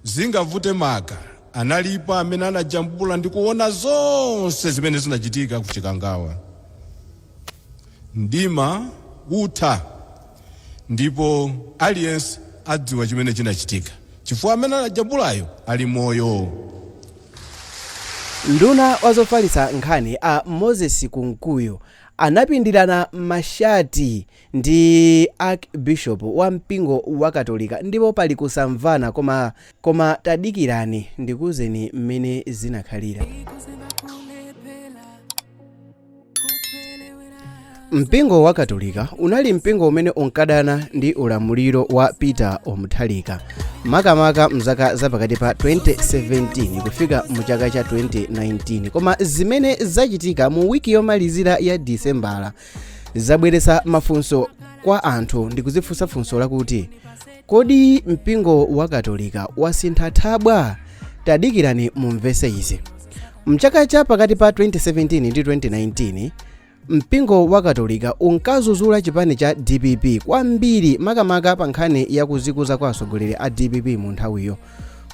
Zingavute maka analipo amene anajambula ndi kuona zonse zimene zinachitika ku Chikangawa. Mdima utha ndipo aliyense adziwa chimene chinachitika chifukwa amene anajambulayo ali moyo. Nduna wa zofalitsa nkhani a Moses Kunkuyu anapindirana mashati ndi Archbishop wa mpingo wa katolika ndipo pali kusamvana koma tadikirani ndikuuzeni mmene zinakhalira. Mpingo wa katolika unali mpingo umene unkadana ndi ulamuliro wa Peter wa Mutharika makamaka mzaka zapakati pa 2017 kufika mu chaka cha 2019 koma zimene zachitika mu wiki yomalizira ya disembala zabweretsa mafunso kwa anthu ndi kuzifunsa funso lakuti kodi mpingo wa katolika wasintha thabwa tadikirani mumvese izi mchaka cha pakati pa 2017 ndi 2019 mpingo wa katolika unkazuzula chipani cha dpp kwambiri makamaka pa nkhani yakuzikuza kwa atsogoleri a dpp mu nthawiyo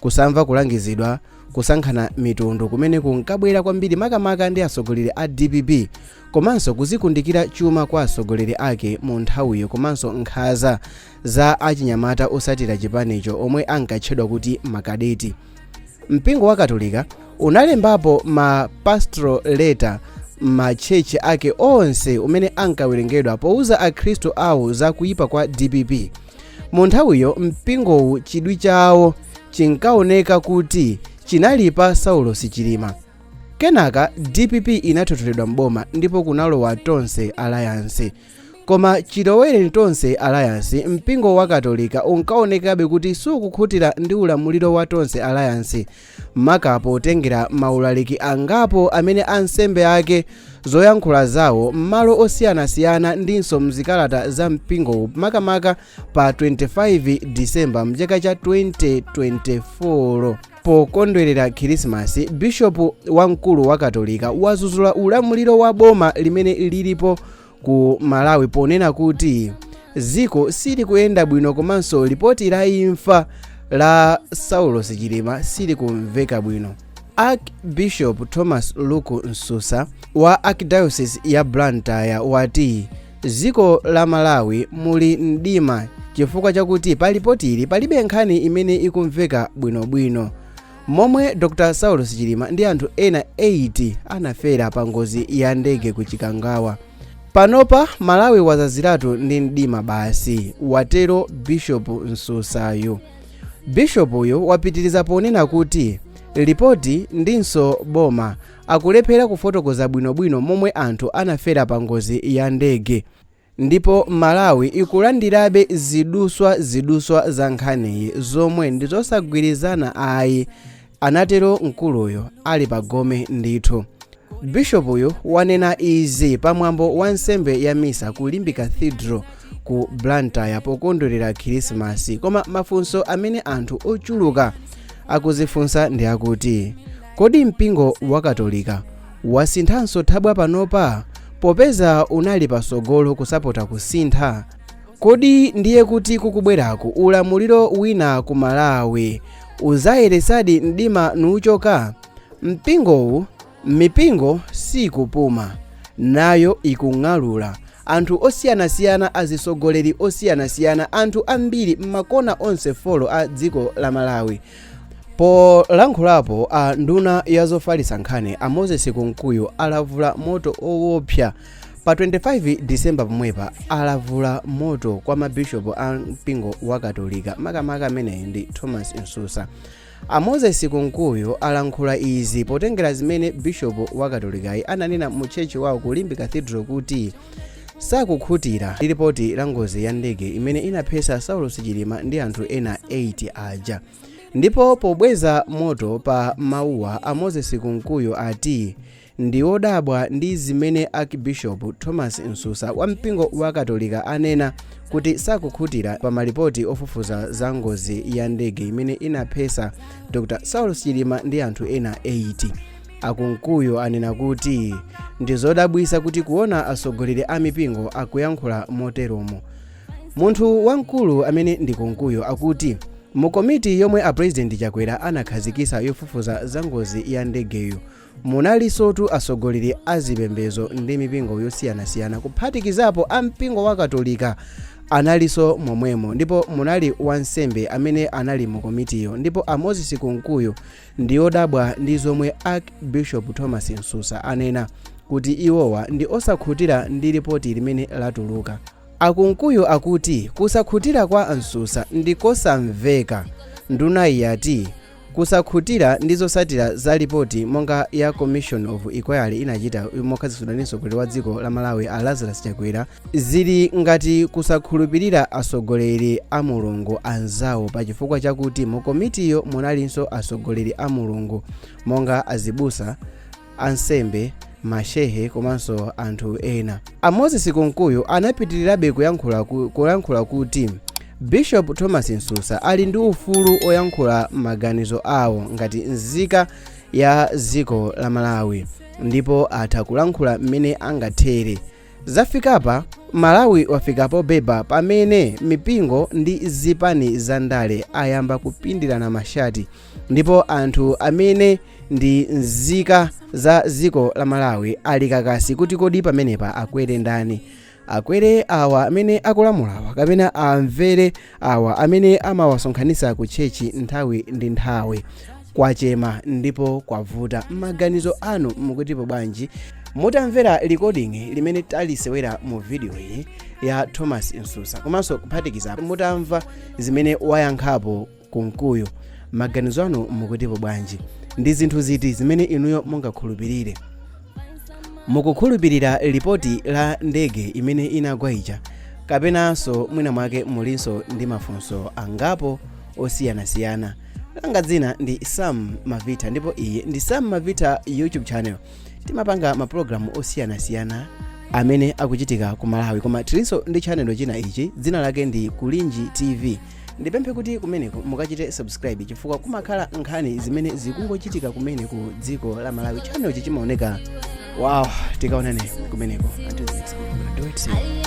kusamva kulangizidwa kusankhana mitundu kumene kunkabwera kwambiri makamaka ndi atsogoleri a dpp komanso kuzikundikira chuma kwa atsogoleri ake mu nthawiyo komanso nkhaza za achinyamata osatira chipanicho omwe ankatchedwa kuti makadeti mpingo wa katolika unalembapo ma pastoral letter m'matchalitchi ake onse umene ankawerengedwa pouza akhristu awo za kuyipa kwa dpp mu nthawiyo mpingowu chidwi chawo chinkaoneka kuti chinali pa saulosi chilima kenaka dpp inathotholedwa mboma ndipo kunalowa tonse alliance koma chilowereni tonse alliance mpingo wa katolika unkaonekabe kuti sukukhutira ndi ulamuliro wa tonse alliance maka potengera maulaliki angapo amene ansembe ake, zoyankhula zawo m'malo osiyanasiyana ndinso m'zikalata za mpingowu makamaka pa 25 December mchaka cha 2024. Pokondwerera Khirisimasi, bishopu wamkulu wa Katolika wazuzula ulamuliro wa boma limene lilipo ku malawi ponena kuti dziko silikuyenda bwino komanso lipoti la imfa la saulos chilima silikumveka bwino archbishop thomas luke msusa wa archdiocese ya blantyre wati dziko la malawi muli mdima chifukwa chakuti pa lipotili palibe nkhani imene ikumveka bwinobwino Momwe Dr Saulos Chilima ndi anthu ena 8 anafera pa ngozi ya ndege ku Chikangawa. Panopa Malawi wazaziratu ndi mdima basi, watero Bishop Msusayo. Bishop uyu wapitiriza ponena kuti lipoti ndinso boma akulephera kufotokoza bwinobwino momwe anthu anafera pa ngozi ya ndege. Ndipo Malawi ikulandirabe ziduswa ziduswa za nkhaniyi zomwe ndi zosagwirizana ayi, anatero mkuluyo ali pa gome ndithu. Bishopuyu wanena izi pa mwambo wa nsembe ya misa ku Limbe Cathedral ku Blantyre pokondwerera Khirisimasi. Koma mafunso amene anthu ochuluka akuzifunsa ndi akuti, kodi mpingo wa Katolika Wasinthanso thabwa panopa? Popeza unali pasogolo kusapota kusintha? Kodi ndiye kuti kukubwerako ulamuliro wina ku Malawi uzayeretsadi mdima nuuchoka? Mpingowu, mipingo siikupuma, nayo ikung'alula. Anthu osiyanasiyana azisogoleri osiyanasiyana anthu ambiri mmakona onse folo a dziko la Malawi Polankhulapo a nduna ya zofalitsa nkhani a Moses Kunkuyu alavula moto owopsa pa 25 December pomwepa alavula moto kwa mabishopu a mpingo wa Katolika makamaka ameneyi ndi Thomas Msusa. A Moses Kunkuyu alankhula izi potengera zimene bishopu wa Katolikayi ananena mu tchetchi wawo ku Limbe Cathedral kuti sakukhutira ndi lipoti la ngozi ya ndege imene inaphetsa saulos chilima ndi anthu ena 8 aja ndipo pobweza moto pa mawuwa a moses kunkuyu ati ndi odabwa ndi zimene archbishop thomas msusa wa mpingo wa katolika anena kuti sakukhutira pa malipoti ofufuza za ngozi ya ndege imene inaphetsa dr saulos chilima ndi anthu ena 8 A Kunkuyu anena kuti ndi zodabwitsa kuti kuona atsogoleri a mipingo akuyankhula moteromo. Munthu wamkulu amene ndi Kunkuyu akuti mu komiti yomwe a President Chakwera anakhazikitsa yofufuza za ngozi ya ndegeyo munalinsotu atsogoleri a zipembedzo ndi mipingo yosiyanasiyana kuphatikizapo a mpingo wa Katolika analinso momwemo ndipo munali wansembe amene anali mu komitiyo ndipo a Moses Kunkuyu ndi odabwa ndi zomwe Arch Bishop Thomas Msusa anena kuti iwowa ndi osakhutira ndi lipoti limene latuluka. A Kunkuyu akuti kusakhutira kwa Msusa ndi kosamveka. Ndunayi yati kusakhutira ndi zotsatira za lipoti monga ya Commission of Inquiry inachita mokhazikitsidwa ndi mtsogoleri wa dziko la Malawi a Lazarus Chakwera zili ngati kusakhulupirira atsogoleri a mulungu anzawo pa chifukwa chakuti mu komitiyo munalinso atsogoleri a mulungu monga azibusa ansembe mashehe komanso anthu ena a moses kunkuyu anapitirirabe kuyankhula kuti bishop thomas msusa ali ndi ufulu oyankhula maganizo awo ngati nzika ya dziko la malawi ndipo atha kulankhula mmene angathere Zafikapa, Malawi wafika pobeba pamene mipingo ndi zipani za ndale ayamba kupindirana mashati ndipo anthu amene ndi nzika za dziko la Malawi ali kakasi kuti kodi pamenepa akwere ndani. Akwere awa amene akulamulawa kapena amvere awa amene amawasonkhanitsa ku tchechi nthawi ndi nthawi kwachema ndipo kwavuta maganizo anu mukutipo bwanji mutamvera recording limene talisewera mu vidiyo iyi ya thomas msusa komanso kuphatikiza mutamva zimene wayankhapo kunkuyu maganizo anu mukutipo bwanji ndi zinthu ziti zimene inuyo mungakhulupirire mukukhulupirira lipoti la ndege imene inagwa ija kapenanso mwina mwake mulinso ndi mafunso angapo osiyanasiyana langa dzina ndi sam mavita ndipo iyi ndi sam mavita youtube channel timapanga maprogramu osiyanasiyana amene akuchitika ku malawi koma tilinso ndi channel china ichi dzina lake ndi kulinji tv ndipemphe kuti kumeneko mukachite subscribe chifukwa kumakhala nkhani zimene zikungochitika kumene ku dziko la malawi channel ichi chimaoneka wow tikaonane kumeneko until next time.